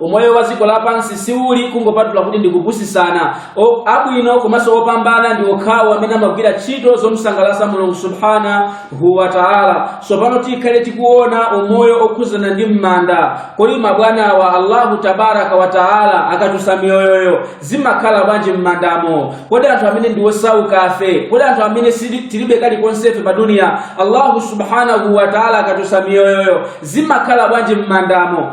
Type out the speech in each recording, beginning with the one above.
umoyo wa dziko lapansi siuli kungopatula kuti ndikupusisana abwino komanso opambana ndi okhawo amene amagwira ntchito zomsangalasa mulungu subhanahu wa taala tsopano tikhale tikuona umoyo okhuzana ndi m'manda kodi mabwanawa allahu tabaraka wa taala akatusa miyoyoyo zimakhala bwanji m'mandamo kodi anthu amene ndi osaukafe kodi anthu amene tilibe kalikonsefe pa duniya allahu subhanahu wa taala akatusa miyoyoyo zimakhala bwanji m'mandamo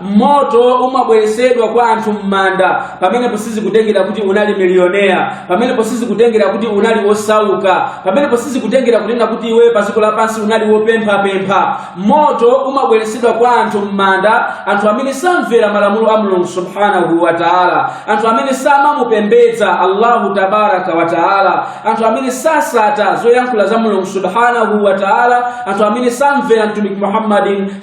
moto umabweresedwa kwa anthu m'manda pamenepo sizikutengera kuti unali miliyonea pamenepo sizikutengera kuti unali wosauka pamenepo sizikutengera kunena kuti iwe padziko lapansi unali wopemphapempha moto umabweresedwa kwa anthu m'manda anthu amene samvera malamulo a mulungu subhanahu wa taala anthu amene samamupembedza allahu tabaraka wa taala anthu amene sasata zoyankhula za mulungu subhanahu wa taala anthu amene samvera mtumiki muhammadin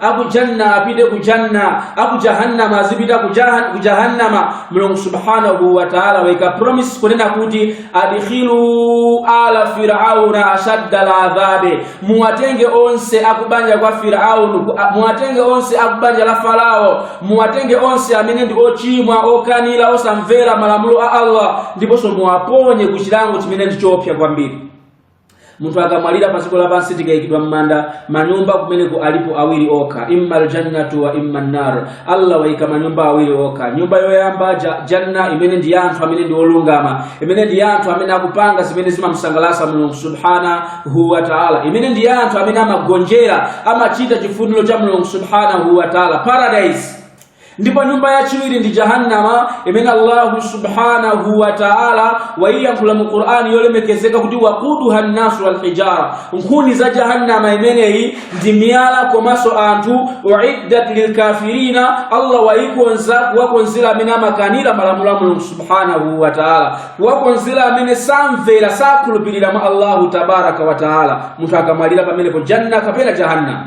aku janna apite ku janna aku jahannama azipita ku jahannama mulungu subhanahu wa taala waika promise kunena kuti adkhilu ala firauna ashadda ladhabi muwatenge onse akubanja kwa firaunu muwatenge onse akubanja la farao muwatenge onse amene ndi ochimwa okanira osamvera malamulo a allah ndiponso muwaponye ku chilango chimene ndi choopsa kwambiri munthu akamwalira pa dziko lapansi tikayikidwa m'manda manyumba kumeneko alipo awiri okha imma aljannatu wa imma nnar allah wayika manyumba awiri okha nyumba yoyamba janna imene ndi anthu amene ndi olungama imene ndi anthu amene akupanga zimene zimamsangalatsa mulungu subhanahu wa taala imene ndi anthu amene amagonjera amachita chifuniro cha mulungu subhanahu wa taala paradise ndipo nyumba yachiwiri ndi jahannama imene allahu subhanahu wa taala waiyankhula mu qur'ani yolemekezeka kuti wakuduha nnasu walhijara nkhuni za jahannama imeneyi ndi miyala komanso anthu uiddat lilkafirina allah waikonza kuwakonzera amene amakanira malamulo a mulungu subhanahu wa taala kuwakonzera amene samvera sakhulupirira mwa allahu tabaraka wa taala munthu akamwalira pamenepo janna kapena jahannama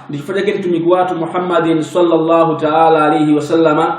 ndi chifukwa chake mtumiki wathu muhammadin sallallahu taala alaihi wasallama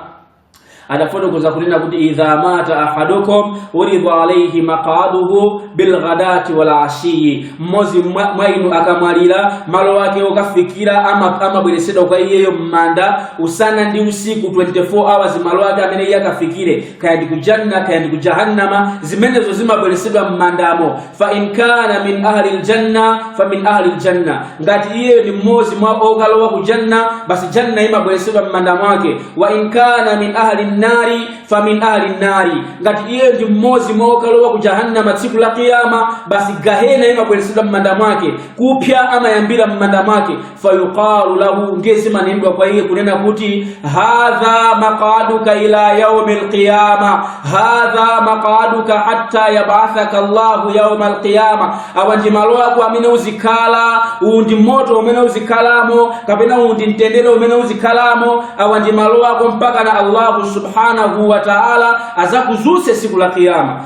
adafotokoza kunena kuti idha mata ahadukum uridha alaihi maqaduhu bilghadati wal ashiyi mmodzi mwa inu akamwalira malo ake okafikira amabweresedwa kwa iyeyo m'manda usana ndi usiku 24 hours malo ake amene iye akafikire kaya ndi kujanna kaya ndi kujahannama zimenezo zimabweresedwa m'mandamo fa in kana min ahli ljanna fa min ahli ljanna ngati iye ndi mmodzi mwa okalowa ku janna basi janna imabweresedwa m'manda mwake wa in kana min ahli nnari fa min ahli nnari ngati iye ndi mmodzi mwa okalowa ku jahannama tsiku la kiyama basi gahena imabweresedwa m'manda mwake kupya amayambira m'manda mwake fayuqalu lahu ndiye zimanenedwa kwa iye kunena kuti hadha maqaduka ila yaumi lqiyama hadha maqaduka hatta yabathaka llahu yauma lqiyama awa ndi malo ako amene uzikhala uwu ndi moto umene uzikhalamo kapena uwu ndi mtendere umene uzikhalamo awa ndi malo ako mpaka na allahu subhanahu wa taala azakuzuse siku la kiyama